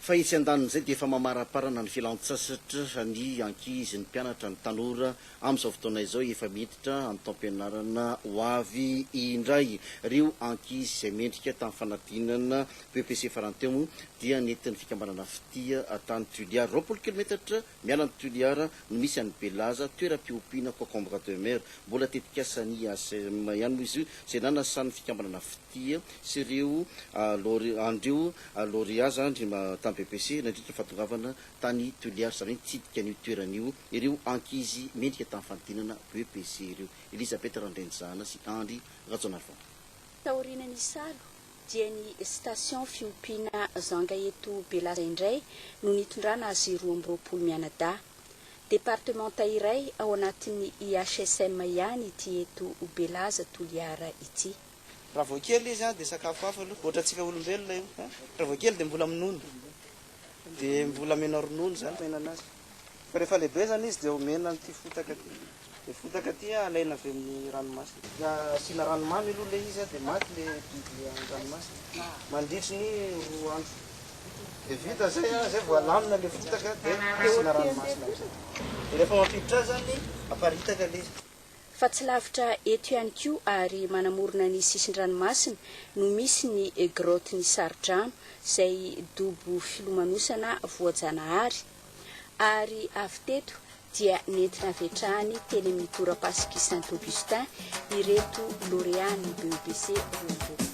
Fa etsy an-danin'izay dia efa mamaraparana ny fialantsasatra ny ankizy, ny mpianatra, ny tanora amin'izao fotoana izao efa miditra amin'ny taom-pianarana ho avy indray. Ireo ankizy izay mendrika tamin'ny fanadinana BEPC farany teo moa dia nentin'ny fikambanana Fitia tany Tuliary, roapolo kilometatra Miala ny Toliara no misy an'i Belaza, toeram-piompiana concombre de mer. Mbola tetikasan'ny IACM ihany moa izy io izay nanasan'ny fikambanana Fitia sy ireo laure, an'ireo laureat zany tamin'ny BEPC nandritra ny fahatongavana tany Toliara, izany hoe nitsidika an'io toerana io ireo ankizy mendrika tamin'ny fanodinana BEPC ireo. Elisabeth Randrianizana sy Andry Rajaonarivony. Taorian'ny salo, dia ny station fiompiana zanga eto Belaza indray no nitondrana azy roa amby roapolo mianadahy. Departemanta iray ao anatin'ny IHSM ihany ity eto Belaza Toliara ity. Raha vao kely izy an dia sakafo hafa aloha, ohatrantsika olombelona io. Raha vao kely dia mbola minono, dia mbola amena ronono izany mihinana azy. Fa rehefa lehibe zany izy dia omena an'ity fotaka ty. Le fotaka ty alaina avy amin'ny ranomasina. Dia asiana rano mamy aloha le izy dia maty le biby an-dranomasina mandritry ny roa andro. Dia vita zay, zay vao alamina le fotaka dia asiana ranomasina amizay. Dia rehefa mampiditra azy zany aparitaka le izy. fa tsy lavitra eto ihany koa ary manamorona ny sisin-dranomasina no misy ny Grotte ny Saridrano izay dobo filomanosana voajanahary ary avy teto dia nentina havetrahany teny amin'ny torapasik' i Saint Augustin ireto lauréats ny BEPC roa amby roapolo.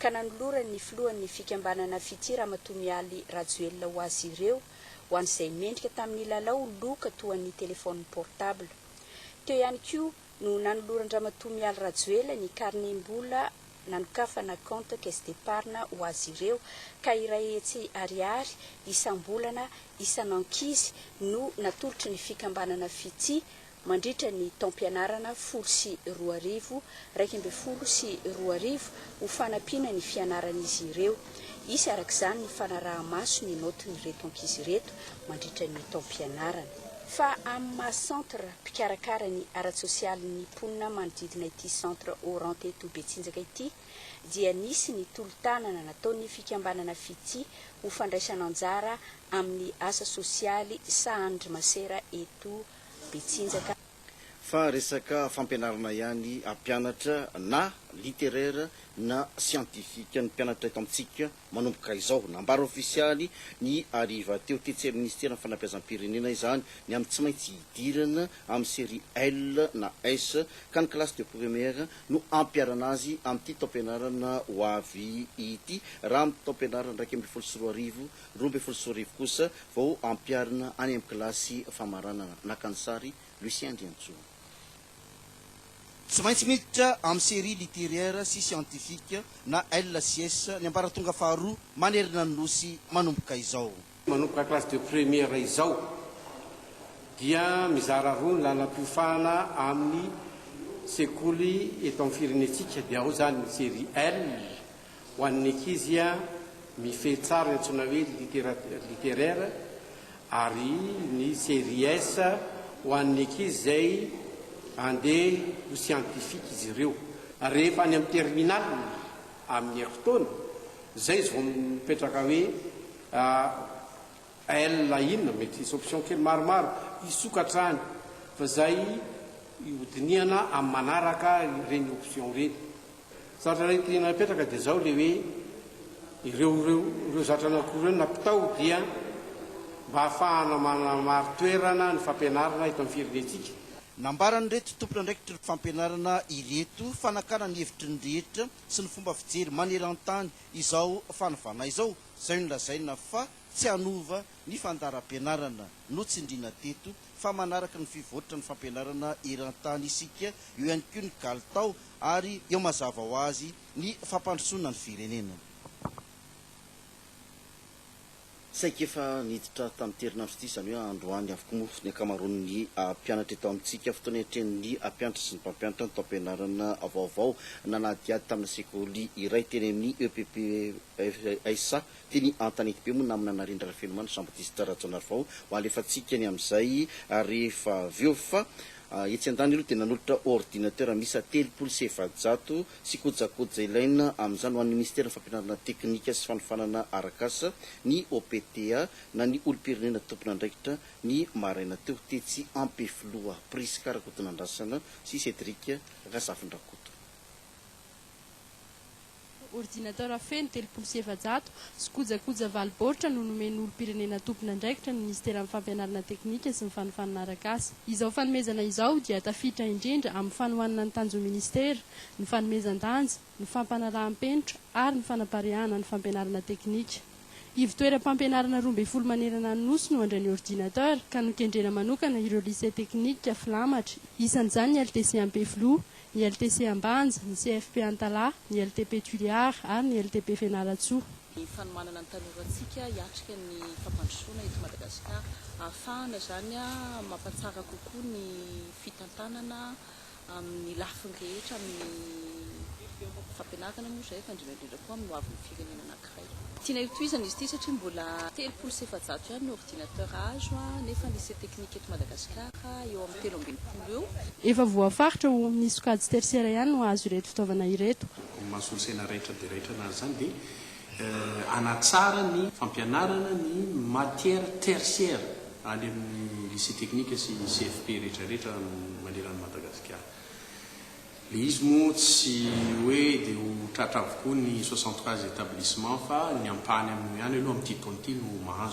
ka nanolorany ny filohan'ny fikambanana Fitia Ramatoa Mialy Rajoelina ho azy ireo ho an'izay mendrika tamin'ny lalao loka toa an'ny téléphone portable. Teo ihany koa no nanoloran-dRamatoa Mialy Rajoelina ny karnem-bola nanokafana compte caisse d'épargne ho azy ireo ka iray hetsy ariary isam-bolana isan'ankizy no natolotry ny fikambanana Fitia mandritra ny taom-pianarana folo sy roa arivo, iraika ambin'ny folo sy roa arivo ho fanampiana ny fianaran'izy ireo. Hisy araka izany ny fanaraha-maso ny naotin'ireto ankizy ireto mandritra ny taom-pianarana. Fa amin'ny maha centre mpikarakara ny ara-tsosialy ny mponina manodidina ity centre Orant eto Betsinjaka ity dia nisy ny tolo-tanana nataon'ny fikambanana Fitia ho fandraisana anjara amin'ny asa sosialy sahanin-dry masera eto Betsinjaka. Fa resaka fampianarana ihany hampianatra na littéraire na scientifique ny mpianatra eto amintsika manomboka izao. Nambara ofisialy ny hariva teo tetsy amin'ny Minisiteran'ny Fanabeazam-pirenena izany ny amin'ny tsy maintsy hidirana amin'ny série L na S ka ny kilasy de première no hampiharana azy amin'ity taom-pianarana ho avy ity raha amin'ny taom-pianarana iraika ambin'ny folo sy roa arivo Roa ambin'ny folo sy roa arivo kosa vao ampiharina any amin'ny kilasy famaranana, naka ny sary, Lucien Andriantsoa. Tsy maintsy miditra amin'ny série littéraire sy scientifique na LCS ny ambaratonga faharoa manerana ny Nosy manomboka izao. Manomboka classe de première izao dia mizara roa ny lalam-piofahana amin'ny sekoly eto amin'ny firenentsika dia ao izany ny série L Ho an'ny ankizy, mifehy tsara ny antsoina hoe littérature littéraire ary ny série S ho an'ny ankizy izay handeha ho scientifique izy ireo. Rehefa any amin'ny terminale amin'ny herintaona, izay izy vao mipetraka hoe L inona, mety hisy option kely maromaro hisokatra any fa izay hodinihana amin'ny manaraka ireny option ireny. Zatra iray tiana apetraka dia izao ilay hoe ireo ireo ireo zatra anakiroa ireo nampitao dia mba hahafahana manamari-toerana ny fampianarana eto amin'ny firenentsika. Nambaran'ireto tompon'andraikitry ny fampianarana ireto fa nakana ny hevitry ny rehetra sy ny fomba fijery maneran-tany izao fanovana izao izay nolazaina fa tsy hanova ny fandaharam-pianarana notsindriana teto fa manaraka ny fivoatra ny fampianarana eran-tany isika, eo ihany koa ny kalitao ary eo mazava ho azy ny fampandrosoana ny firenena. Saika efa niditra tamin'ity herinandro ity, izany hoe androany avokoa moa ny ankamaroan'ny mpianatra eto amintsika. Fotoana iatrehan'ny mpianatra sy ny mpampianatra ny taom-pianarana vaovao. Nanadihady tamina sekoly iray teny amin'ny EPPSA Teny Antanetibe moa namana Narendra Rafenomana Jean Baptiste Rajaonarivao ho alefantsika ny amin'izay rehefa avy eo fa etsy an-daniny aloha dia nanolotra ordinateur miisa telopolo sy efajato sy kojakoja ilaina amin'izany ho an'ny Minisiteran'ny Fampianarana Teknika sy Fanofanana Arak'asa ny OPTA na ny olom-pirenena tompon'andraikitra ny maraina teo tetsy Ampefiloha. Prisca Rakotonandrasana sy Cédric Razafindrakoto. ordinateur feno telopolo sy efajato sy kojakoja valo baoritra no nomen'ny olom-pirenena tompon'andraikitra ny Minisiteran'ny Fampianarana Teknika sy ny Fanofanana Arak'asa. Izao fanomezana izao dia tafiditra indrindra amin'ny fanohanana ny tanjon'ny Minisitera, ny fanomezan-danja, ny fampanaraham-penitra ary ny fanapariahana ny fampianarana teknika. Ivo-toeram-pampianarana roa ambin'ny folo manerana ny Nosy no handray ny ordinateur ka nokendrena manokana ireo Lycée Teknika filamatra, isan'izany ny LTC Ampefiloha, ny LTC Ambanja, ny CFP Antalaha, ny LTP Tuléar ary ny LTP Fianarantsoa. ny fanomanana ny tanorantsika hiatrika ny fampandrosoana eto Madagasikara, ahafahana izany mampatsara kokoa ny fitantanana amin'ny lafiny rehetra, amin'ny fampianarana moa izay, fa indrindra indrindra koa amin'ny hoavin'ny firenena anankiray. Tiana hotohizana izy ity satria mbola telopolo sy efajato ihany ny ordinateur azo nefa ny lycée technique eto Madagasikara eo amin'ny telo ambin'ny folo eo. Efa voafaritra ho ny sokajy tersiera ihany no hahazo ireto fitaovana ireto. Ny maha-solosaina raitra dia raitra anazy izany dia hanatsara ny fampianarana ny matières tertiaires any amin'ny lycée technique sy CFP rehetra rehetra maneran'i Madagasikara. Le izy moa tsy hoe de ho tratra avokoa ny soixante cas établissements fa ny ampahany amin'io ihany aloha amin'ity taona ity no mahazo.